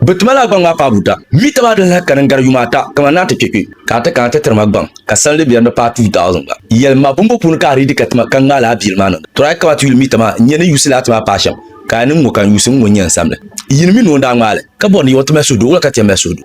Bɛ ti mali a gbaŋ maa paai buta mii ti ba di lahi kani n-gari yuma ata kamani ni a ti kpe kpe ka a ti kana ti tiri ma gbaŋ ka sanli bɛ ni paai 2000 gba. Yɛli m ma bumbu puuni ka a riidi ka ti ma ka ŋmaai laa biili maa niŋda? Tɔra yi kama ti yuli mii tama n-nya ni yuusi laa ti maa paai shɛm ka a ni ŋ-ŋɔ ka n yuusi ŋ-ŋɔ n-nya n-sam li. Yini mi ni o ni daa ŋmaai li ka bɔri ni yɛn ti mali suhudoo wula ka ti yɛn mali suhudu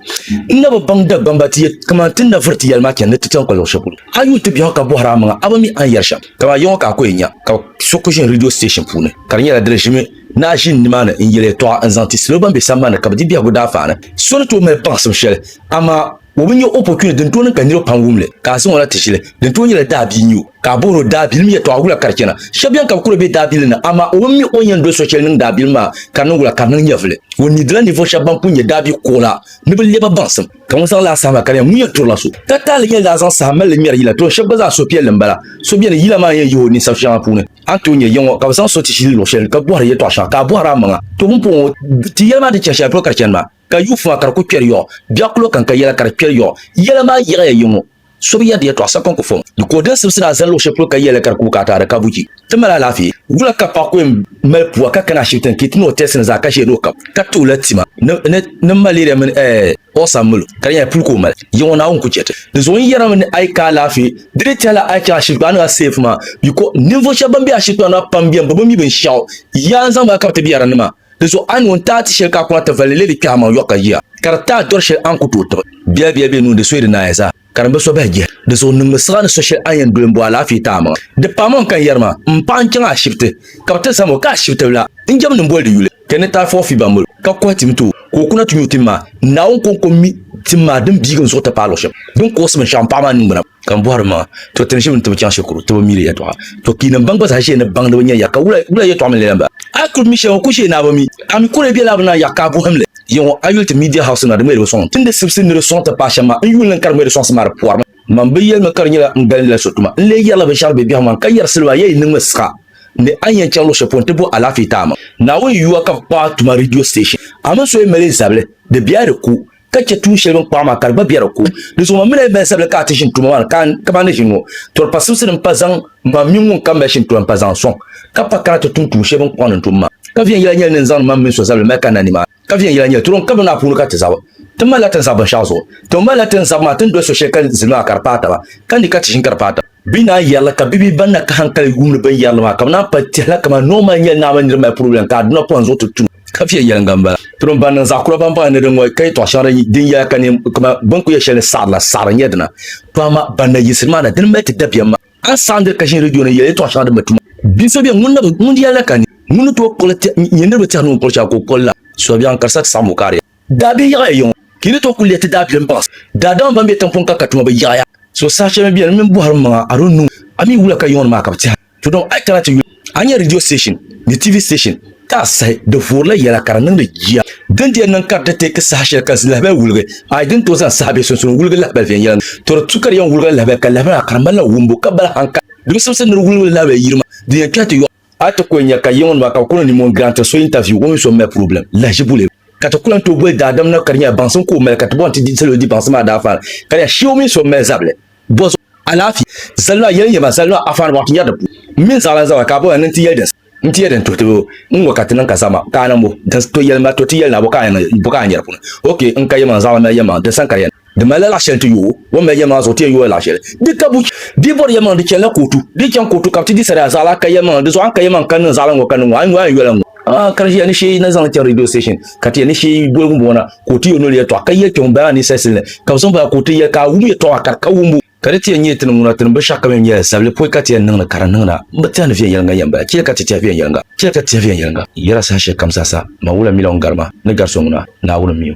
n na bi baŋ Dagbamba ti yɛ kamani ti ni na vuri ti yɛli maa chani ni ti chaŋ ka luɣ'shɛli polo a yuun ti biɛhigu ka bɔhiri a maŋa a ba mi a ni yɛri shɛm kamani yɛŋɔ ka a ko yɛn nya ka so ko ʒini ridio siteeshin puuni ka di nyɛla di ni ʒimi Naa ʒini nimaani n-yel yɛtɔɣa n-zaŋ ti salo ban be sambani ni ka bɛ di biɛhigu daafani. So ni tooi mali baŋsim shɛli, amaa o bi nya opportunity din tooi niŋ ka niriba pam wum li ka a zaŋ o na ti ʒili, din tooi nyɛla daabia n-nyɛ o ka a bohir o daabilim yɛtɔɣa wula ka di chana. Shɛb beni ka bɛ kuri be daabilim ni, amaa o bi mi o ni yɛn doli so shɛli niŋ daabilim maa ka di niŋ wula ka di niŋ nyɛvili. O nidila ninvuɣ shɛb ban pun nyɛ daabia kuɣula ni bɛ lɛbi baŋsim. Ka ŋun zaŋ li a saha maa ka di nya ŋun yɛn turila so ka taali yɛn daa zaŋ saha mali li ŋmɛri yila, tɔ shɛb gba zaa suhupiɛlli m-bala. So beni yila maa ni yɛn yihi o ninsab shɛŋa puuni. a ni tooi nyɛ yiŋɔ ka bɛ zaŋ so ti ʒili luɣ shɛli ka bɔhiri yɛtɔɣ shɛŋa ka a bɔhiri a maŋa. To bini puhi ŋɔ, ti yɛli maa ni chɛ shɛli polo ka di chani maa, ka yuufu maa ka di ku kpɛri yɔɣu, biɛɣukpullo kan ka yɛla ka di kpɛri yɔɣu. Yɛla maa yiɣiya yiŋɔ, so bi yɛrdi yɛtɔɣ sa ka n ku fɔŋ di ka o dini simsi ni a zani luɣ shɛli polo ka yɛli li ka di ku bi ka a taada ka bu chi. Ti mali alaafee. Wula ka paɣ ku yɛn mali pua ka kani ashibiti ni ka yi ti ni o tɛɛsi ni zaa ka ʒiya ni o kab ka ti o la tima ni malɛriya mini ɛɛ ɔɣisa milo ka di nyɛla puli ka o mali. Yiŋɔ Naawuni ku chɛ ti ni zuɣu n yɛrimi ni a yi ka alaafee Di ni tɛla a yi chaŋ ashikpaa ni a seef maa biko ninvuɣ shɛb bɛn be ashikpaa maa pam beni bɛ bi mi binshɛɣu. Yaa n zaŋ ba kabiti biɛrinima. Di zuɣu a ni ŋun taai ti shɛli ka a kuna ti valli leei di kpɛhamaŋ yɔɣu ka ʒiya, ka di taai dɔri shɛli a ni ku tooi tiɣi. Biɛbiɛ be nuuni di soya di naaya zaa, ka di ni bi so bahi jihi. Di zuɣu niŋmi siɣa ni so shɛli a ni yɛn doli m-bo alaafee ti amaŋa. Di paamaŋ ka n yɛri ma, m paɣa n-chaŋ ashibiti ka bɛ ti zam o ka ashibitibila n-jɛmdi m boli di yuli. Ti ni taai fɔɣifi ba mil ka kɔhi tim ti o, ka o kuna ti nyu tim maa. Naawuni kɔŋko mi tim maa din biigi n zuɣu ti paai luɣ shɛb din kuɣisi binshɛɣu m paɣ maa ningbuna. Ka n bɔhiri ma, To ti ni ʒi bɛ ni ti bi chaŋ shikuru, ti bi mi di yɛtɔɣa. To kpii ni m baŋ gba zaa ʒiya ni baŋdi bɛ nya ya, ka wula wula yɛtɔɣa mini lɛlɛmba. A kul mi shɛli ŋɔ, ku ʒiya ni a bi mi. A mi kuli bela bɛ naan yaɣ ka a bɔhim li. Yiŋɔ a yuli ti Media House nima di ŋmɛribu sɔŋ. Ti ni di sibisi ni di sɔŋ ti paai shɛm maa, n yuli ni n ka di ŋmɛri sɔŋsim maa di pɔrimi. Mam bi yɛlimi ka di nyɛla n galindila so tuma, n lee yɛrila binshɛɣu di be biɛhigu maa, ka yɛri siliba a yɛn yi niŋmi siɣa ni a ni yɛn chaŋ luɣ shɛli polo nti bo alaafee ti a maŋ. Naawuni yuwa ka bɛ kpaɣi tuma ridio siteeshin. A mini so yi mali zabili, di be a di ku, ka chɛ tuun shɛli bɛ ni kpaɣi maa ka di gba be a di ku. Di zuɣu mam mini a yi mali zabili ka a ti ʒini tuma maa ni, ka a kamani ni ʒini ŋɔ, tɔri pasimsi di ni pa zaŋ mam mini ŋun kam mali shini tuma m-pa zaŋ sɔŋ, ka pa kana ti tum tuun shɛli bɛ ni kɔŋ ni n tum maa. Ka viɛnyɛla nyɛla ni n zaŋdi mam mini so zabili mali kanna nimaani. ka viɛnyɛla nyɛli turom ka bini maa puuni ka ti zabi. Ti malila tin zabi binshɛɣu zuɣu. Ti malila tin zabi maa ti ni doli so shɛli ka zilima maa ka di paai taba, ka ni ka ti ʒini ka di paai taba. Bɛ naan yɛrila ka bibihi ban na ka hankali yuumdi bini yɛrili maa ka bɛ naan pali tɛhila kaman noo mali nyɛli naa mini niriba mali puri yɛliŋ ka aduna pɔhim zuɣu ti tu. Ka viɛnyɛliŋga m-bala. Turom ban niŋ zaɣ kura baŋbaŋ ni din ŋɔ ka yɛtɔɣ shɛŋa din yɛya ka ni kaman bɛ ni ku yɛ shɛli ni saɣiri la, saɣiri n-nyɛ dina. Pɔhima ban na yiɣisiri maa na dini mali ti dabiɛm maa. A saɣindi ka ʒini redio ni yɛli yɛltɔɣa shɛŋa din bi tuma. Bia so beni ŋun nabi ŋun di yɛli la ka ni ŋun ni tooi kpuɣili tɛh nyɛ niriba tɛhigu ni o kpuɣili shɛli ka o kpuɣili la suhubiɛɣu n-kari sa ti saɣim o kariya. Daabihi yaɣiya yiŋɔ ka yi ni tooi kuli lehi ti daabilim baŋsi. Daadama ban be tiŋpuŋ ka ka tuma bi yaɣiya. So saha shɛli mi beni m mini bɔhiri m maŋa, I don't know, a mi wula ka yiŋɔ ni maa ka bi tɛha? Tɔ dɔŋ a yi kana ti yuli. A nyɛ ridio station ni TV station ka a sahi di vuurila yɛla ka di niŋdi jia. Din di yɛn niŋ ka di ti teeki saha shɛli ka zilahabali wuligi, a yi di ni tooi zaŋ saha bee sunsuuni wuligi lahabali viɛnyɛla ni, tɔ di tu ka di yɛn wuligila lahabali ka lahabali maa ka di ŋmanila wumbu ka bala haŋ ka di bi simsi ni di wuligila lahabali yiri maa, din yɛn kpɛhi ti yɔɣu. A ti kuli nya ka yiŋnima ka bɛ kuli niŋ nimmɔhi n-gram ti so interview o mini so m-mali problem lahiʒibu lebu ka ti ku lan tooi boli daadam na ka di nyɛla baŋsim ka o mali ka ti bɔŋ ti di salo di baŋsim maa daafaan ka di nya shee o mini so m-mali zabili Bɔzo, alaafee, zalima, yɛli yɛma, zalima, afaani bɔŋ ti nyari di puuni. M mini zaɣilan zabira ka a bɔya ni n ti yɛli din saha. N ti yɛli din tuhi ti bɛ o. N ŋɔ ka ti niŋ ka zama ka a niŋ bɔ? Din to yɛlima to ti yɛli na bɔ ka a niŋ bɔ ka a nyari puuni? Ok, n ka yɛlimaŋ, zaɣilan mali yɛlimaŋ, din sani ka di yɛn niŋ. Di malila laɣ shɛli n ti yo o. O ni mali yɛlimaŋ zuɣu ti yɛn yoola laɣ shɛli. Di ka buchi. Di bɔri yɛlimaŋ di chanila kootu. Di ni chaŋ kootu ka bɛ ti di sariya zaɣila ka yɛlimaŋ di zuɣu a ni ka yɛlimaŋ ka niŋ zaɣilan ŋɔ ka niŋ ŋɔ a ni yo a yɛn yola n ŋɔ. Ah, ka ya ni shee na zaŋ ti radio station ka ti ya ni shee boligu m-bɔŋɔ na ka o ti yo noli yɛtɔɣa ka yɛli kpɛŋɔ baa ni sɛsi ni ka bɛ zaŋ baa ka o ti ya ka a wum yɛtɔɣa ka di ka wumbu ka di ti ya nyɛ ti ni ŋuna ti ni boli shɛɣu ka mɛm nyɛla sabili pɔi ka ti ya niŋ ni ka di niŋ na m bi tɛhi ni viɛnyɛliŋga yɛn bala chɛ ka ti tɛhi viɛnyɛliŋga chɛ ka ti tɛhi viɛnyɛliŋga yɛla saha shɛli kam zaa sa man wula milɔŋ gari ma ni gari so ŋuna Naawuni m-mi o.